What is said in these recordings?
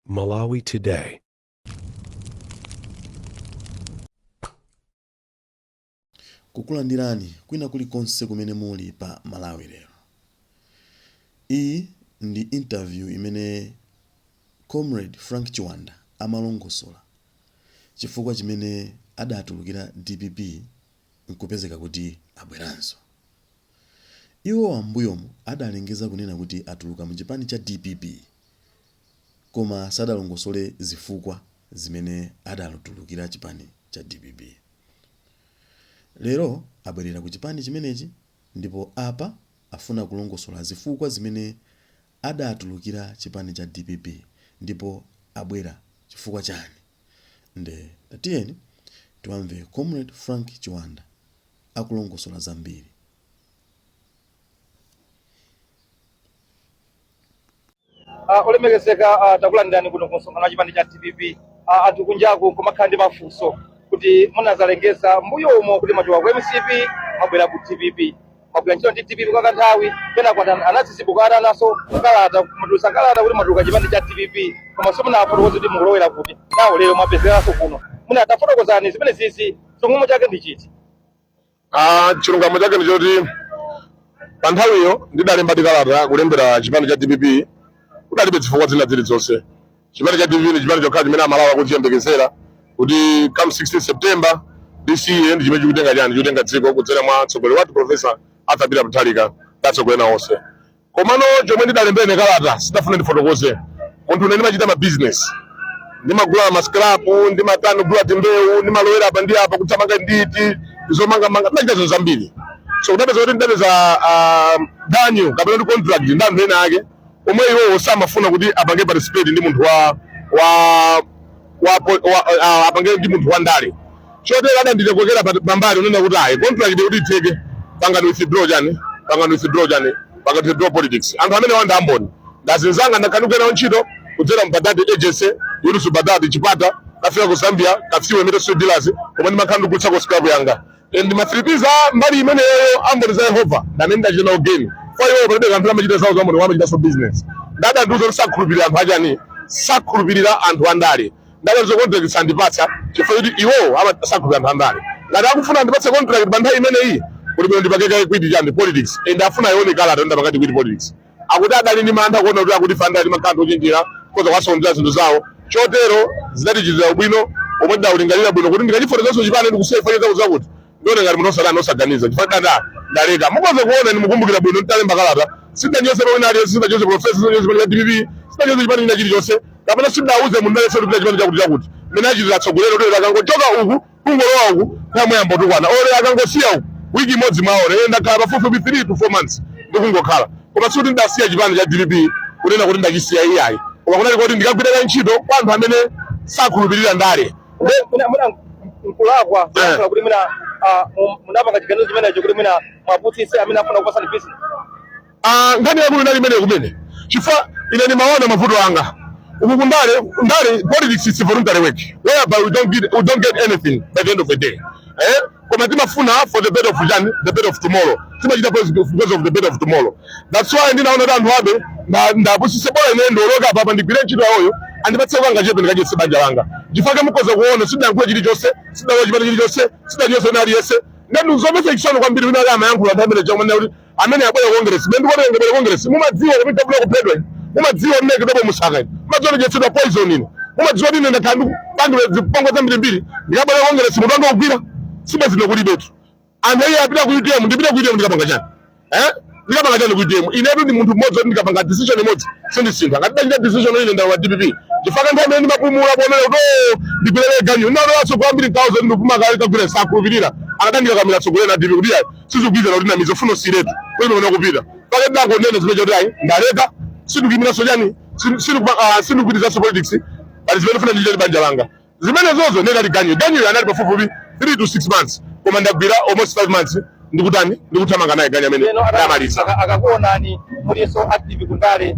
Malawi Today. kukulandirani kwina kulikonse kumene muli pa malawi lero iyi ndi interview imene comrade frank chiwanda amalongosola chifukwa chimene adatulukira dpp nkupezeka kuti abweranso. Iwowa m'mbuyomu adalengeza kunena kuti atuluka mu chipani cha dpp koma sadalongosole zifukwa zimene adatulukira chipani cha dpp. Lero abwerera ku chipani chimenechi ndipo apa afuna kulongosola zifukwa zimene adatulukira chipani cha dpp ndipo abwera chifukwa chani. Nde tatiyeni tiwamve Comrade Frank Chiwanda akulongosola zambiri. Ah, olemekezeka ah, takulandirani kuno ku msonkhano wa chipani cha dpp Ah, anthu kunjaku kumakhala ndi mafunso kuti munazalengeza mbuyo umo kuti mwachoka ku mcp mwabwera ku dpp mwagwira ntchito ndi dpp kwa kanthawi kenako ana- anadzidzimuka ananso kalata mutulutsa kalata kuti mwatuluka chipani cha dpp koma simunafotokoze kuti mukulowera kuti nawo lero mwapezekanso kuno mwina tafotokozani zimenezizi chilungamo chake ndi chiti Ah, chilungamo chake ndi choti pa nthawiyo ndidalemba kalata kulembera chipani cha dpp kudalibe zifukwa zina zilizonse chipani cha dpp ndi chipani chokha chimene amalawi akuchiyembekezera kuti come 16 september this year ndi chimene chikutenga chani chikutenga dziko kudzera mwa mtsogoleri wathu profesa arthur peter mutharika ndi atsogoleri ena onse komano chomwe ndidalembera ine kalata sindidafuna ndifotokoze munthu ine ndimachita ma business ndimagula mascrapu ndimatani kugula timbewu ndimalowera apa ndi apa kuthamanga ndi tizomangamanga ndimachita zinthu zambiri so kudapeza kuti ndidapeza ah, ganyu kapena ndi contract ndi anthu ena ake omwe iwowo samafuna kuti apange participate ndi munthu wa wa wa, po- wa uh, apange ndi munthu wa ndale chotero adandikokera pa- pambali kunena kuti ayi contract kuti itheke pangani withdraw chani pangani withdraw chani pangani withdraw politics anthu amenewa nda amboni ndazinzanga ndakanuka nawo ntchito kudzera mubadadi agency yolusu badadi chipata kafika ku zambia kafue metal steel dealers koma ndimakhala ndikugulitsako scrap yanga Eh, ndimatsiripiza mbali imeneyo amboni za yehova amene ndachita nawo geni kwa iwo palibe kanthu amachita zawo zaumboni amachitanso bizinesi nde adandiuza kuti sakhulupirira anthu achani sakhulupirira anthu andale nde adandiuza contract sandipatsa chifukwa kuti iwowo ama- sakhulupirira anthu andale ngati akufuna andipatse contract pa nthawi imeneyi kuli bwino ndipange kaye quit chani politics and afuna aione kalata ndapangadi quit politics akuti adali ndi mantha kuona kuti akuti fanda limakhala anthu ochenjera akhoza kuwasokonzera zinthu zawo chotero zidatichitira ubwino pomwe ndidalingalira bwino kuti ndikachifotokozanso chipani ndikusiya ifanye zakuti zakuti ndione ngati munthu osaga- osaganiza chifukwa nda- nda- ndaleka mukhoza kuona ndimukumbukira bwino nditalemba kalata sindanyoze amene aliyense sindanyoze profesa sindanyoze pamene dpp sindanyoze chipani china chilichonse kapena sindauze munthu aliyense kuti pita chipani chakuti chakuti mmene achitira atsogoleri kuti akangochoka uku kungolowa uku kumayamba kutukwana mwaona akangosiya uku wiki imodzi mwaona ine ndakhala pafupifupi 3 to 4 months ndikungokhala koma sikuti ndidasiya chipani cha dpp kunena kuti ndachisiya iyayi koma kunali koti ndikagwirire ntchito kwa anthu amene sakhulupirira ndale Nde- mwina mwina nkulakwa Eh. kulankhula kuti mwina ah, mu- munapanga chiganizo chimenecho kuti mwina muwapusitse amene amafuna kupatsani business Ah, nkhani yaikulu inali imeneyo kumene chifukwa ine ndimaona mavuto anga uku kundale ndale politics is voluntary work whereby we don't get, we don't get anything by the end of the day eh? koma timafuna for the better of chani the better of tomorrow timachita because because of the better of tomorrow that's why ndinaona kuti anthu awa ndi- ndiwapusitse bola ine ndiwoloke apapa ndigwire ntchito yawoyo andipatse kangachepe ndikadyetse banja langa chifukwa mukhoza kuona sindidayankhule chilichonse sindidalowe chipani chilichonse sindidanyoze wina aliyense ndazimvetsa chisoni kwambiri winayake amayankhula nthawi imene chakumana kuti amene abwera ku Congress ndi kuti ndingabwere ku Congress mumadziwa kuti tabula kuphedwa mumadziwa mmene Kidobo Msaka mumadziwa kudyetsedwa poison ino mumadziwa kuti nenda kandu bandu zipongwe zambiri mbiri ndikabwera ku Congress mutu wanga kugwira siyi zino kulibetu anthu iye apita ku UTM ndipita ku UTM ndikapanga chani eh ndikapanga chani ku UTM inetu ndi munthu mmodzi ndikapanga decision imodzi sindisintha ngati ndachita decision ine ndi wa DPP chifukwa nthawi imene ndimapumula kuonera kuti oh, ndigwirere ganyu ndinalowanso kwambiri 1000 ndikupuma kale kagwira sakhulupirira akadandika kamira tsogolera DPP kuti sizikugwirizana kuti namiza funo siletu kwene unaona kupita pake ndangonena zimenezo zoti ayi ndaleka sindikuyimiranso chani sindikupitirizanso ah, politics pali zimene ndifuna ndichite banja langa zimenezozo ndiye anali ganyu ganyu anali pafupifupi 3 to 6 months koma ndagwira almost 5 months ndikutani ndikuthamanga naye ganyu amene ndamaliza akakuonani mulinso active kundale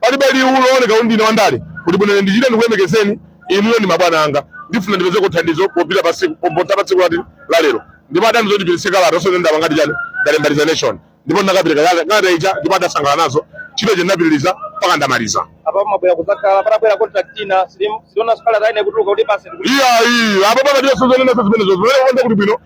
Palibe ali ndikuoneka kuti ndine wandale kuti bwanji ine ndichite ndikulemekezeni inuyo ndi mabwana anga. Ndifuna ndipezeko thandizo popita pa tsiku popita pa tsiku lati la lero. Ndipo adandiuza kuti tipatse kalata osati ndapanga chani ndalemba resignation. Ndipo ndakapereka kalata kalata ija ndipo adasangalala nazo ntchito ija ndinapitiriza mpaka ndamaliza. apa mabwera kudzakhala patabwera contract ina sindionanso nkhani za ine kutuluka kuti basi ndikuti Iyayi apa pano ndilibenso zonenanso zimenezozo. Lero konde kuti bwino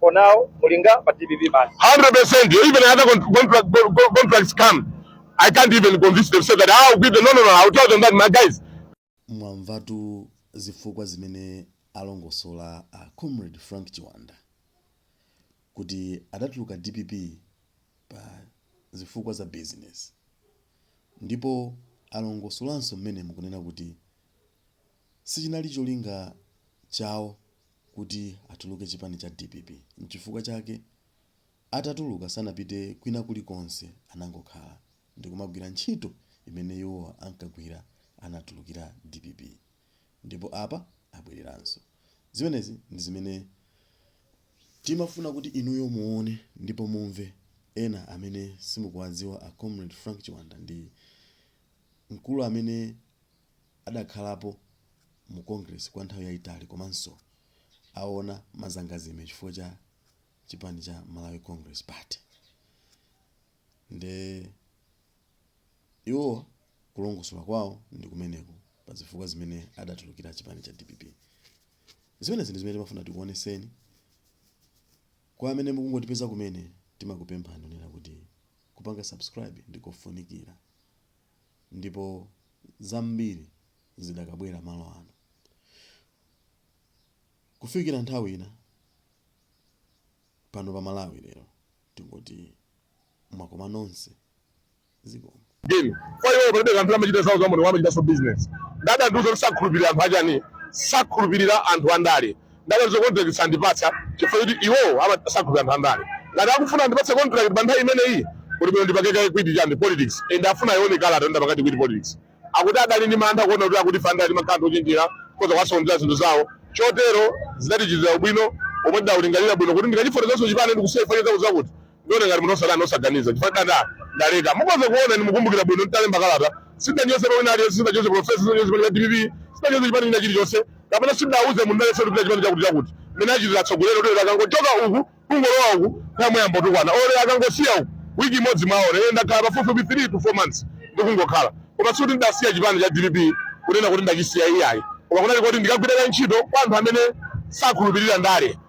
for now muli ku dpp basi 100% even other contract, contracts come i can't even convince them say that ah, i'll give them no no no i'll tell them that my guys mwamvatu zifukwa zimene alongosola a comrade frank chiwanda kuti adatuluka dpp pa zifukwa za business ndipo alongosolanso mmene mukunena kuti Sichinali cholinga chawo kuti atuluke chipani cha dpp mchifukwa chake atatuluka sanapite kwina kuli konse anangokhala ndikumagwira ntchito imene iwo ankagwira anatulukira dpp ndipo apa abwereranso zimenezi ndi zimene timafuna kuti inuyo muone ndipo mumve ena amene simukuwadziwa a comrade Frank Chiwanda ndi mkulu amene adakhalapo mu Congress kwa nthawi yaitali komanso aona mazangazime chifukwa cha chipani cha Malawi Congress Party nde iwo kulongosola kwawo ndi kumeneko pa zifukwa zimene adatulukira chipani cha dpp zimenezi ndi zimene timafuna tikuoneseni kwa amene mukungotipeza kumene timakupemphani kunena kuti kupanga subscribe ndikofunikira ndipo zambiri zidakabwerabe malo ano. Kufikira nthawi ina, pano pa Malawi lero tingoti mwakoma nonse zikomo. geni kwa iwo palibe kanthu amachita zawo zamoto amachitanso business nde adandiuza kuti sakhulupirira anthu achani sakhulupirira anthu andale nde contract sandipatsa chifukwa choti iwowo samakhulupirira anthu andale ngati akufuna andipatse contract pa nthawi imeneyi kuti bwino ndipume kaye kwiti chani politics nde afuna aone kalata ndapanga quit politics akuti adali ndi mantha kuona kuti akuti andale amakhala anthu ochenjera akhoza kuwasokonezera zinthu zawo chotero zidatichitira ubwino omwe ndidaulingalira bwino kuti ndikachifotokozo chipani ndikusefa cheza kuzakuti Ndiona ngati munthu osadana osaganiza chifukwa ndale ndaleka mukoza kuona ndi mukumbukira bwino ntalemba kalata sindanyozepo wina aliyense sindanyozepo profesa sindanyozepo cha dpp sindanyozepo chipani china chilichonse kapena sindauze munthu aliyense kuti chipani chakuti chakuti mmene achitira atsogoleri kuti akangochoka uku kungolowa uku nkumayamba kutukwana ore akangosiya uku wiki imodzi alowa ine ndakhala pafupifupi 3 to 4 months ndikungokhala koma sikuti ndasiya chipani cha dpp kunena kuti ndachisiya iyayi koma kunali kuti ndikagwira ntchito kwa anthu amene sakhulupirira ndale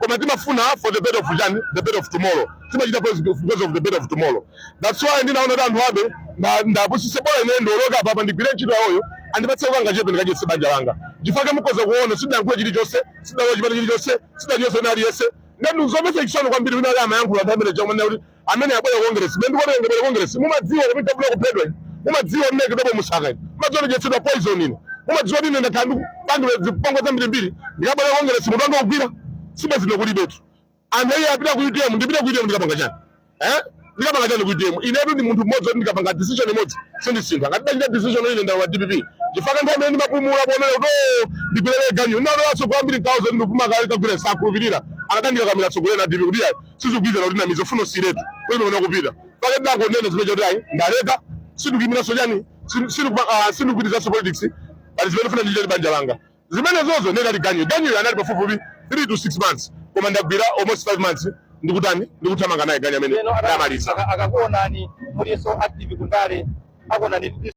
koma timafuna for the better of chani the better of tomorrow timachita because because of the better of tomorrow that's why ndinaona kuti anthu abe nda- ndapusise bora ine ndilowe apa apa ndigwire ntchito yawoyo andipatse kangachepe ndikadyetse banja langa nchifukwa chake mukhoza kuona sindayankhule chilichonse sindalowe chipani chilichonse sindanyoze wina aliyense nde ndi zomvetsa chisoni kwambiri wina akamayankhula nthawi imene ija kumanena kuti amene abwera ku Congress mene ndikuona ngati abwera ku Congress mumadziwa kuti ndafuna kuphedwa ine mumadziwa mene kidobo musaka ine mumadziwa ndidyetsedwa poison ine mumadziwa kuti ine ndakhala ndikupangidwa zipongwe zambirimbiri ndikabwera ku Congress mutu wanga ukugwira sibwezi ine kulibetu anthu iye apita ku UTM ndipita ku UTM ndikapanga chani eh ndikapanga chani ku UTM inetu ndi munthu mmodzi kuti ndikapanga decision imodzi sindisintha ngati ndachita decision ine ndi wa DPP chifukwa nthawi imene ndimapumula kuonera kuti oh, ndigwirere ganyu ndinalolanso kuyambiri 1000 ndikupuma kale kagwira sakhulupirira akatandika kamira tsogolera DPP kuti ayi sizikugwirizana kuti ndinamiza fuko sizeretu kwene ona kupita pake ndangonena zimenezo kuti ayi ndaleka sindikuyimiranso chani sindikupitilizanso politics pali zimene ndikufuna ndichite banja langa zimenezozo ine anali ganyu ganyu anali pafupifupi 3 to 6 months koma ndagwira almost 5 months ndikutani ndikuthamanga naye ganyu amene ndamaliza akakuonani mulinso active kundale akuonani